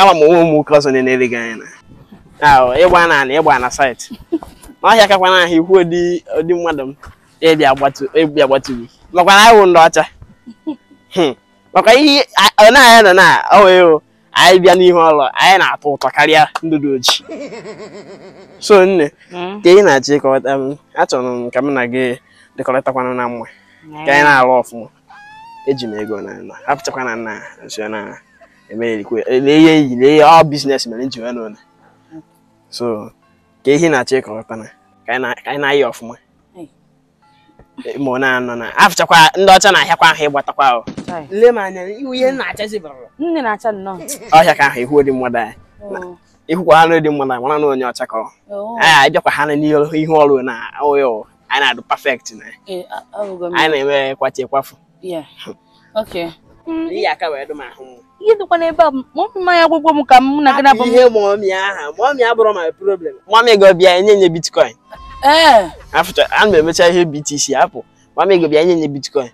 ama m o nwere ụmụ nwoke ọzọ na-ele gị anya na ịgba na ana ịgba na saịtị na ọ hịakakwa na ahụ ịhụ ụdị mmadụ m ịbịa gbatu gị makwa na anyị wụ ndị ọcha hmm. maka ihe ọ na-anya nọ na ọ wee anyị bịa n'ihe love anyị na-atọ ụtọ karịa ndị dị oji so nne hmm. ka ị na-achịkọta m achọrọ m ka m na gị dịkọrịtakwa na mma ka anyị na-alụ ọfụma eji m ego na na afụchakwa na nne so na emerikwe lee ihe iyi lee ihe ọ biznes mere m ji wee n'ụlọ so ka ị na-achọ ịkọrọta na ka anyị na- ka anyị na-ayị ọfụma ma ọ na-anọ na afụchakwa ndị ọcha na-ahịakwa ahụ ịgbatakwa ahụ Chai. nne m anya iwu ị na-achazi bara nne na-acha nnọọ ọ hịaka ahụ ịhụ ụdị mmadụ anyị Oo, ịhụkwa ụdị mmadụ anyị mara na onye ọcha ka ọ oo. anyị bịakwa ha n'ihu ihu ọrụ na ọya anyị na-adụ perfect na ya Ee, a- ahụgo m. anyị na-eme kwachi kwafu Yeah. Okay. ihe aka wee dụ m ahụ mma Ihe dịkwa n'ebe a, ma ọ bụ mmanya gwụgwọ m ka mụ na gị na-abụ m. ihe mọmi aha mọmi abụrọ my problem mọmi gị ọ bịa enye m ya bitcoin Ee. afụcha ana m emecha ihe btc afụ mọmi gị ọ bịa enye m ya bitcoin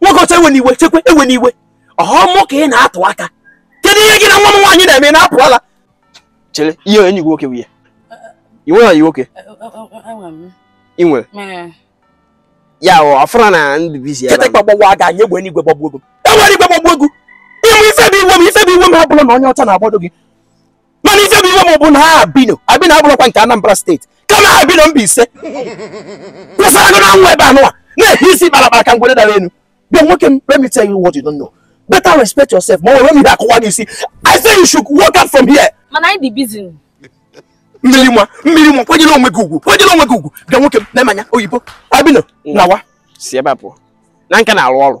nwoke ọcha ewena iwe chekwe ewena iwe ọ mụ ka ị na-atụ aka kedu ihe gị na nwa m nwaanyị na-eme na-apụ ala chere ihe enyi gị nwoke nwunye ị nwere enyi nwoke ị nwere ya ị afụrọ na m dị bizi kete gbagbawa aga anyị egbe enigwe gbagbuo gị egbe igwe gbagbuo gị ị ma ife bụ iwe m ife bụ iwe m abụrọ na onye ọcha na-agbado gị mana ife bụ iwe m bụ na ọ abino abino abụrọkwa nke anambra steeti kama ọ abino mbaise kwesịrị agụ na nwa ebe anụwa na-ehi isi kparakpara ka ngwere dara elu bịa nwoke m let me tell you what you don't know better respect yourself ma ọ m were ihe a kụwa gị isi i say you should walk out from here mana anyị dị bizi mmiri mma mmiri mma kwanyere onwe gị ugwu kwanyere onwe gị ugwu bịa nwoke m na-emanya oyibo abino nawa si ebe a pụọ na nka na-arụ ọrụ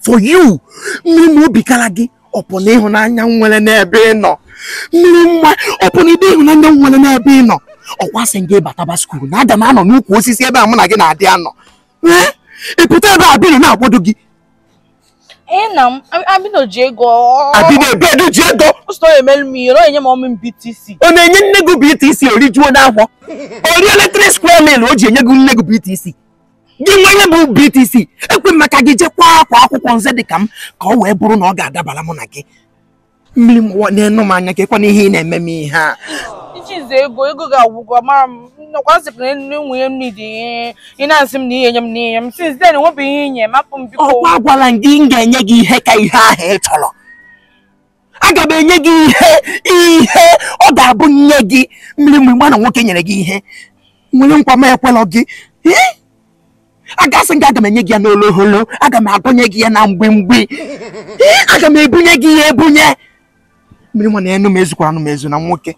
for you mmiri mma obi kara gị ọ bụ na ịhụnanya m nwere n'ebe ị nọ mmiri mma ọ bụ na ụdị ịhụnanya m nwere n'ebe ị nọ ọkwa asị m gị bataba skuul na aga m anọ n'ukwu osisi ebe mụ na gị na-adị anọ ee ị pụta ebe abino na-agbado gị Ee na m abino ji ego ọ- abino ebe edu ji ego ọ sị na ọ ga-emelu m ihe na ọ ga-enye m mọmi m BTC ọ na-enye nne gị BTC o rijuo afọ o rie three square meal o ji enye nne gị BTC gị nwa ị nwere BTC ekwe maka gị jekwa agụ akwụkwọ nze dị ka m ka ọ wee bụrụ na ọ ga-adabara mụ na gị mmiri mma nenụ m anya kekwanụ ihe ị na-eme m ihe a ichize ego ego ga-agwụgwọ mara m ọkwa m sị na enwe ihe m nidi ị na-asị m na ị ya-enye m na ihe m since then enwebeghị ihe ị nye m hapụ m biko ọkwa agwala m gị m ga-enye gị ihe ka ihe ahụ ị chọrọ aga m enye gị ihe ihe ọ ga-abụ nye gị mmiri ị ma na nwoke nyere gị ihe nwere nkwa m ekwela gị agasị gị aga m enye gị ya n'oloholo aga m adọnye gị ya na mgbimgbi aga m ebunye gị ya ebunye mmiri nwa nyenụ m ezukwaranụ m ezu na nwoke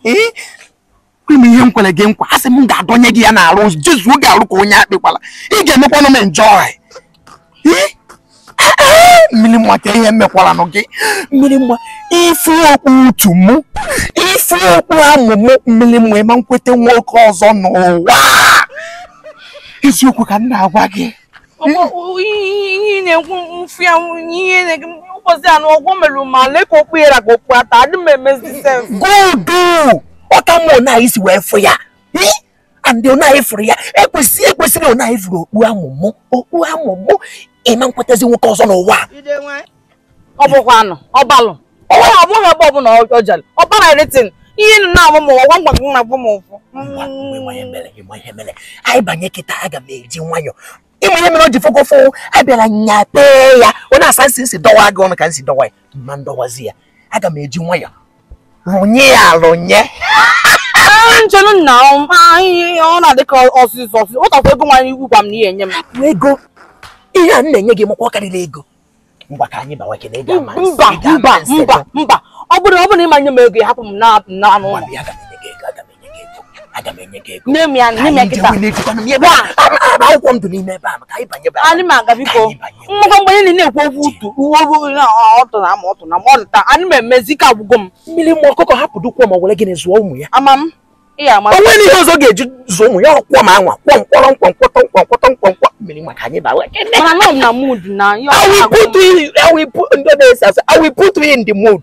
kwe m ihe m kwere gị nkwa asị m ga-adọnye gị ya n'arụ jezuo gị arụ ka onye akpị gbara ị ga-emekwanụ m enjoy mmiri nwa ka ihe mekwaranụ gị mmiri nwa ị fụ okpu utu mụ ị fụ okpu amụ mụ mmiri nwa ịma nkweta nwoke ọzọ n'ụwa eziokwu ka m na-agwa gị ihe na-ekwu mfu ya ihe na-ege ụbọchị anụ ọgwụ merụ ma lee ka okpu yara ka okpu ata adị m emezi sef godu ọ ka mma na isi wee fụ ya andị onaghị fụrụ ya ekwesịrị ekwesịrị onaghị fụrụ okpu amụ mụ okpu amụ mụ ịma nkwetazi nwoke ọzọ n'ụwa ọ bụkwa anụ ọbalụ ọ bụghị ọ bụghị ebe ọbụla ọ jere ọ bara everything ihe nụ na-amụ m ụwa ngwa ngwa na-agwa m ụfụ Ngwa, ngwa, ịma ihe mere, ịma ihe mere. anyị banye kịta aga m eji nwayọ ịma ihe mere o ji fokofo abịara nyapee ya ọ na-asa nsị nsị dọwa gị ọnụ ka nsị dọwa ya ma ndọwazi ya aga m eji nwayọ rụnye ya rụnye nchenu nna ihe ọ na-adị ka ọsịsọ ọsịsọ ụtakwa ego nwanyị iwu gwa m na ihe enye m bụ ego ihe a m na-enye gị ị makwa ọ karịrị ego mba mba mba mba ọ bụrụ ọ bụrụ ị ma nye m ego hapụ m n'anụ ụlọ nne m ya nne m ya kịta akwụkwọ ndụ n'ime ebe a maka anyị banye ebe a anyị ma aga biko mmụkọ mgbe anyị na-ekwu okwu utu uwe obu ọtụ na ama ọtụ na ma ọ dịta anyị ma emezi ike agwụgo m mmiri mmụọ ọkụkọ hapụdụ kwọm o were gịnị zụọ ụmụ ya ama m o nwere ihe ọzọ ga-eji zụ ụmụ ya ọ kwọm a nwa kwọm kwọrọm nkwọ nkwọtọ nkwọ nkwọtọ nkwọ nkwọ mmiri maka anyị bawe ndị na-ese asụ I will put you in the mood